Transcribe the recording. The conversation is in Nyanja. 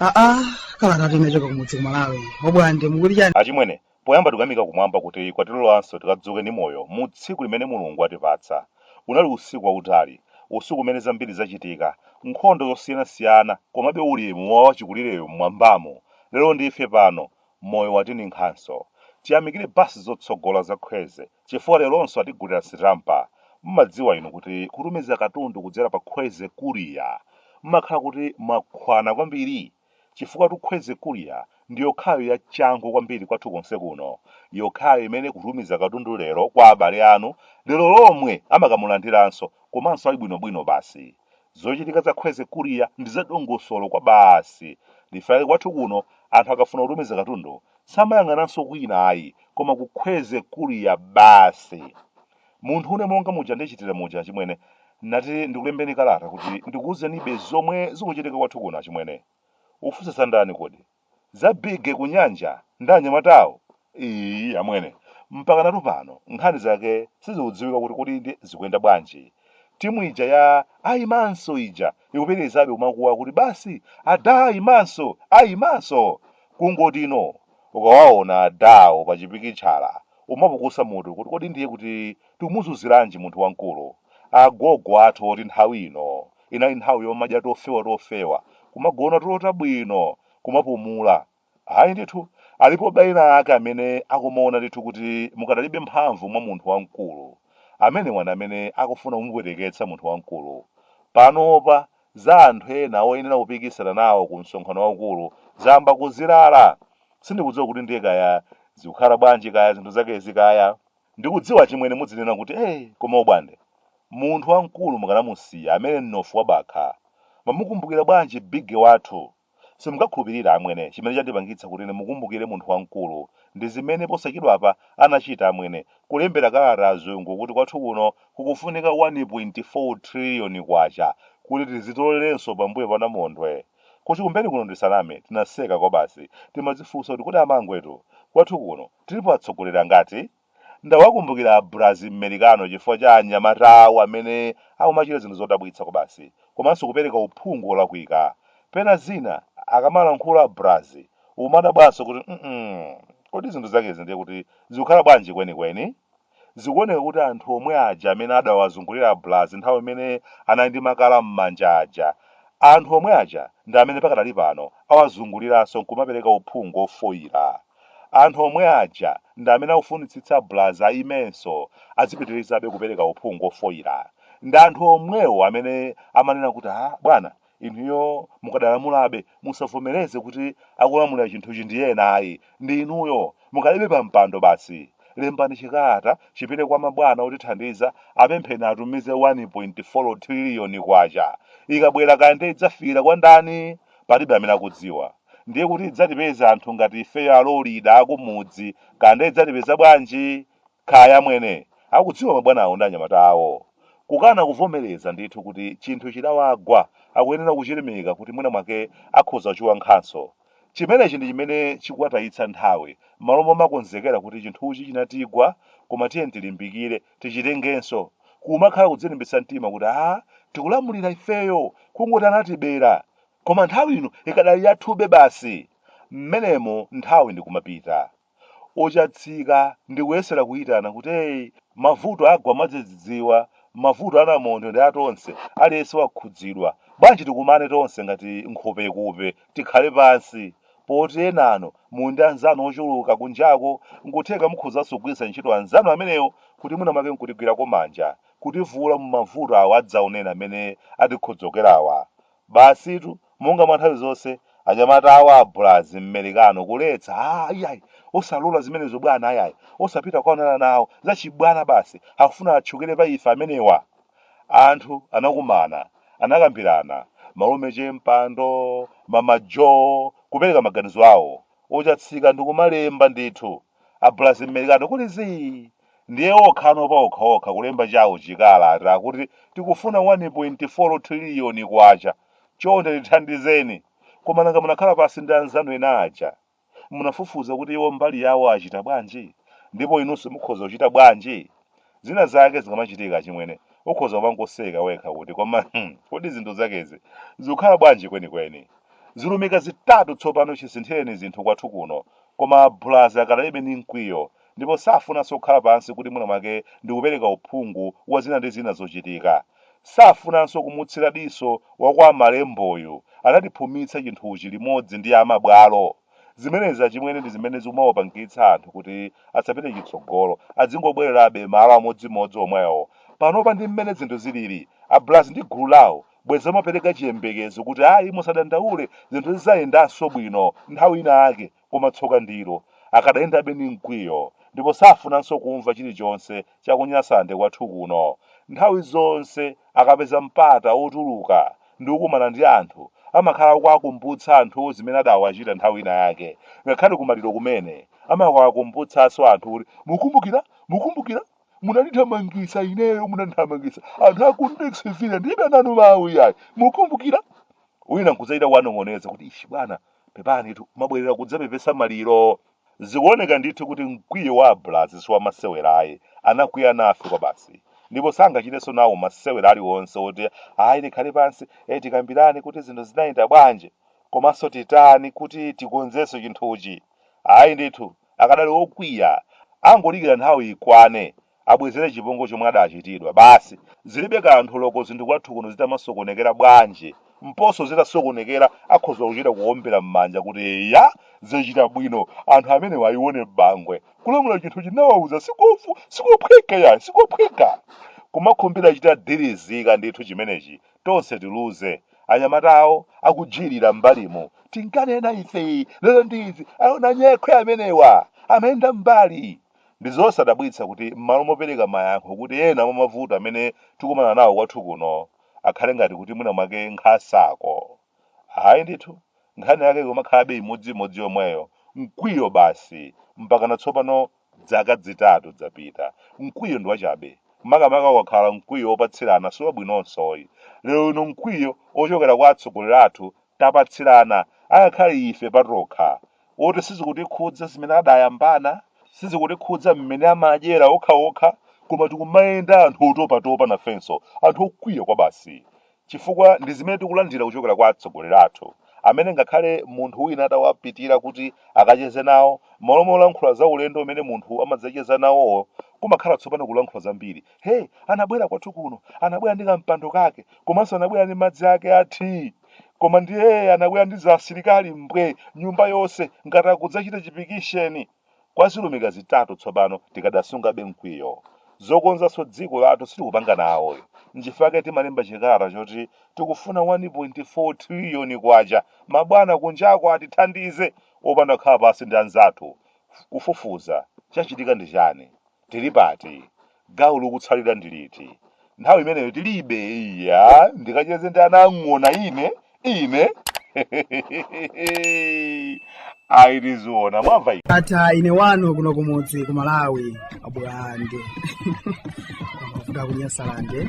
aa kalatatu inachoka kumudzi kumalawi obwande mukuti chani achimwene poyamba tikuyamika kumwamba kuti kwatilolanso tikadzuke ndi moyo mu tsiku limene mulungu watipatsa unali usiku wautali usiku umene zambiri zachitika nkhondo zosiyanasiyana komabe ulemu wa wachikulireyo mmwambamo Lelo ndife pano moyo watininkhanso. Tiyamikile bus zotsogola za Kwezy chifukwa lelonso atigulila sitampa. Mmadziwa inu kuti kutumiza katundu kudzela pa Kwezy Courier mmakhala kuti mwakhwana kwambili? Chifukwatu Kwezy Courier ndiyokhayo ya changu kwambili kwathu konse kuno. Yokhayo imene kutumiza katundu lelo kwa abale anu lelo lomwe amakamulandilanso komanso ali bwino bwino basi. Zochitika za Kwezy Courier ndi za dongosolo kwabasi. Nchifukwa chake kwathu kuno anthu akafuna kutumiza katundu samayang'ananso kwina ayi koma ku Kwezy Courier basi. Munthune monga muja ndichitira muja achimwene nati ndikulembeni kalata kuti ndikuwuzenibe zomwe zikuchitika kwathu kuno achimwene. Ufunsa za ndani kodi? Za bigge kunyanja ndi anyamatawo? Iii amwene, mpakanatu pano nkhani zake sizikudziwika kuti kodi nde zikuyenda bwanji? Timu ija ya ayimanso ija ikupitilizabe kumakuwa kuti basi adah ayimanso! ayimanso! Kungoti no ukawaona adah wo pachipikitchala umapukusa mutu kuti kodi ndiye kuti tikumuzunzilanji munthu wamkulu? Agogo athu oti nthawi ino inali nthawi yomadya tofewa tofewa kumagona tulo tabwino kumapumula ayi ndithu alipobe ena ake amene akumaona ndithu kuti mukadalibe mphamvu mwa munthu wamkulu amenewa ndi amene akufuna kumupweteketsa munthu wamkulu panopa za anthu ena oyenera kupikisana nawo ku msonkhano waukulu zayamba kuzilala sindikudziwa kuti ndiye kaya zikukhala bwanji kaya zinthu zakezi kaya Ndikudziwa achimwene mudzinena kuti ee koma obwande? Munthu wamkulu mukanamusiya amenye mnofu wa bakha. Mwamukumbukira bwanji bigge wathu? Simungakhulupirire amwene chimene chandipangitsa kuti ndimukumbukire munthu wamkulu ndi zimene posachedwapa anachita amwene kulembera kalata azungu kuti kwathu kuno kukufunika 1.4 trillion kwacha kuti tizitolerenso pambuyo pa namondwe. Ku Chikumbeni kuno ndisaname tinaseka kwabasi timadzifunsa kuti kodi amangwetu, kwathu kuno Tilipo atsogoleri angati? Ndawakumbukira a Brazzi Mmericano chifukwa cha anyamata awo amene akumachita zinthu zodabwitsa kwabasi komanso kupereka uphungu olakwika. Pena zina akamalankhula a Brazzi umadabwanso kuti mm kodi zinthu zakezi ndiye kuti zikukhala bwanji kwenikweni? Zikuoneka kuti anthu omwe aja amene adawazungulira a Bulazi nthawi imene anali ndi makala m'manja aja, anthu omwe aja ndi amene pakadali pano awazunguliranso nkumapereka uphungu ofoira. Anthu omwe aja ndi amene akufunitsitsa Bulazi ayimenso azipitirizabe kupereka uphungu ofoira. Ndi anthu omwewo amene amanena kuti, ah, bwana, Inuyo mukadalamulabe, musavomereze kuti akulamulira chinthuchi ndi ena ayi, ndi inuyo. Mukalibe pampando basi. Lembani chikalata chipite kwa mabwana otithandiza, apempheni atumize K1.4 thililiyoni. Ikabwera kaya ndiye idzafikira kwa ndani? Palibe amene akudziwa. Ndiye kuti idzatipeza anthu ngati ifeyo alolida akumudzi, kaya ndiye idzatipeza bwanji? Kaya amwene akudziwa mabwanawo ndi anyamata awo. Kukana kuvomereza ndithu kuti chinthu chidawagwa akuyenera kuchirimika kuti mwina mwake akhoza kuchiwankhanso. Chimenechi ndi chimene chikuwatayitsa nthawi m'malo momakonzekera kuti chinthuchi chinatigwa koma tiyeni tilimbikire tichitengenso. Kumakhala kudzilimbitsa mtima kuti aah tikulamulira ifeyo kungoti anatibera koma nthawi ino ikadali yathube basi. M'menemo nthawi ndi kumapita. Ochatsika ndi kuyesera kuyitana kuti, Hey, mavuto agwa mwadzidzidziwa, mavuto a namondwe ndi a tonse, aliyense wakhudzidwa. Bwanji tikumane tonse ngati nkhopekupe, tikhale pansi. Poti enanu muli ndi anzanu ochuluka kunjako, nkutheka mukhozanso kugwiritsa ntchito anzanu amenewo kuti mwina mwake nkutigwirako manja, kutivuula mu mavuto awa adzaoneni amene atikhodzokerawa. Basitu, monga mwa nthawi zonse, anyamata awo a Bulazi Mmerikano kuletsa, Aaa, iyayi, osalola zimenezo bwana, iyayi, osapita kukaonana nawo, zachibwana basi, akufuna atchukire pa ife amenewa! Anthu anakumana, anakambirana, Malume Chempando, Mama Jo, kupereka maganizo awo, ochatsika ndi kumalemba ndithu, a Bulazi Mmerikano kuli zii! Ndiye okhano paokhaokha kulemba chao chikalata kuti tikufuna K1.4 trillion. Chonde tithandizeni. Koma nanga munakhala pansi ndi anzanu ena aja? Munafufuza kuti iwo mbali yawo achita bwanji? Ndipo inunso mukhoza kuchita bwanji? Zina zake zikamachitika achimwene, ukhoza kumangoseka wekha kuti koma hmm, kodi zinthu zakezi zikukhala bwanji kwenikweni? Zilumika zitatu tsopano chisinthireni zinthu kwathu kuno. Koma a Bulazi akadalibe ndi mkwiyo ndipo safunanso kukhala pansi kuti mwina mwake ndi kupereka uphungu wa zina ndi zina zochitika. Safunanso kumutsira diso wa kwa Malemboyu. Anatiphumitsa chinthuchi limodzi ndi amabwalo. Zimenezi achimwene ndi zimene zikumawapangitsa anthu kuti asapite chitsogolo. Adzingobwererabe malo amodzimodzi omwewo. Panopa ndi mmene zinthu zilili, a Bulazi ndi gulu lawo bwezi amapereka chiyembekezo kuti ayi musadandaule zinthu zidzayendanso bwino nthawi ina yake. Koma tsoka ndilo, akadayendabe ndi mkwiyo, ndipo safunanso kumva chilichonse cha ku Nyasalande kwathu kuno. Nthawi zonse akapeza mpata wotuluka ndi kukumana ndi anthu, amakhala akuwakumbutsa anthuwo zimene adaawachita nthawi ina yake. Ngakhale kumaliro kumene, amakawakumbutsanso anthu kuti, Mukumbukira? Mukumbukira? Munandithamangitsa ineyo, munandithamangitsa. Anthu a ku Ndixville ndilibe nanu mawu iyayi. Mukumbukira? Wina nkudzachita kuwanong'oneza kuti, Ishi bwana, Pepanitu, mwabwerera kudzapepesa maliro? Zikuoneka ndithu kuti mkwiyo wa a Braz si wamasewera ayi, anakwiya nafe kwabasi. Ndipo sangachitenso nawo masewera aliwonse woti ayi tikhale pansi, eh tikambirane kuti zinthu zinayenda bwanji komanso titani kuti tikonzenso chinthuchi. Ayi ndithu, akadali okwiya, angodikira nthawi ikwane Abwezere chipongwe chomwe adachitidwa basi. Zilibe kanthu loko zinthu kwathu kuno zitamasokonekera bwanji, mposo zitasokonekera akhoza kuchita kuombera mmanja kuti eya zachita bwino anthu amenewa aione Bangwe. Kulamula chinthuchi nawauza sikovu sikophweka yayi sikophweka. Kumakhumbira chitadilizika ndithu chimenechi tonse tiluze. Anyamata awo akujilira mmbalimu tinkanena ife lero ndi izi aona nyekhwe amenewa amayenda mmbali. Ndi zosadabwitsa kuti m'malo mopereka mayankho kuti ena mwa mavuto amene tikumana nawo kwathu kuno akhale ngati kuti mwina mwake nkhasako. Ayi ndithu, nkhani yake ikumakhalabe imodziimodzi yomweyo, mkwiyo basi, mpakana tsopano dzaka dzitatu dzapita. Mkwiyo ndi wachabe, makamaka ukakhala mkwiyo wopatsirana si wabwinonso yi. Lero lino mkwiyo wochokera kwa atsogoleri athu tapatsirana angakhale ife patokha oti sizikutikhudza zimene adayambana sizikutikhudza mmene amadyera okhaokha koma tikumayenda anthu otopatopa nafenso anthu okwiya kwabasi chifukwa ndi zimene tikulandira kuchokera kwa atsogoleri athu amene ngakhale munthu wina atawapitira kuti akacheze nawo malo molankhula za ulendo umene munthu amadzacheza nawowo kumakhala tsopano kulankhula zambiri Hey, anabwera kwathu kuno, anabwera ndi kampando kake, komanso anabwera ndi madzi ake a tea. Koma ndiye anabwera ndi za asilikali mbwe nyumba yonse ngati akudzachita chipikisheni. Kwa zilumika zitatu tsopano tikadasungabe mkwiyo. Zokonzanso dziko lathu sitikupanga nawo. Nchifukwa chake timalemba chikalata choti tikufuna 1.4 triliyoni kwacha. Mabwana kunjako atithandize opanda kukhala pansi ndi anzathu. Kufufuza chachitika ndi chani? Tili pati? Gawo likutsalira ndi liti? Nthawi imeneyo tilibe. Iya, ndikacheze ndi ana a ng'ona ine, ine. Ayi tiziona, mwamva. Ndatha ine wanu kuno kumudzi ku Malawi a Bwande mafuta ku Nyasalande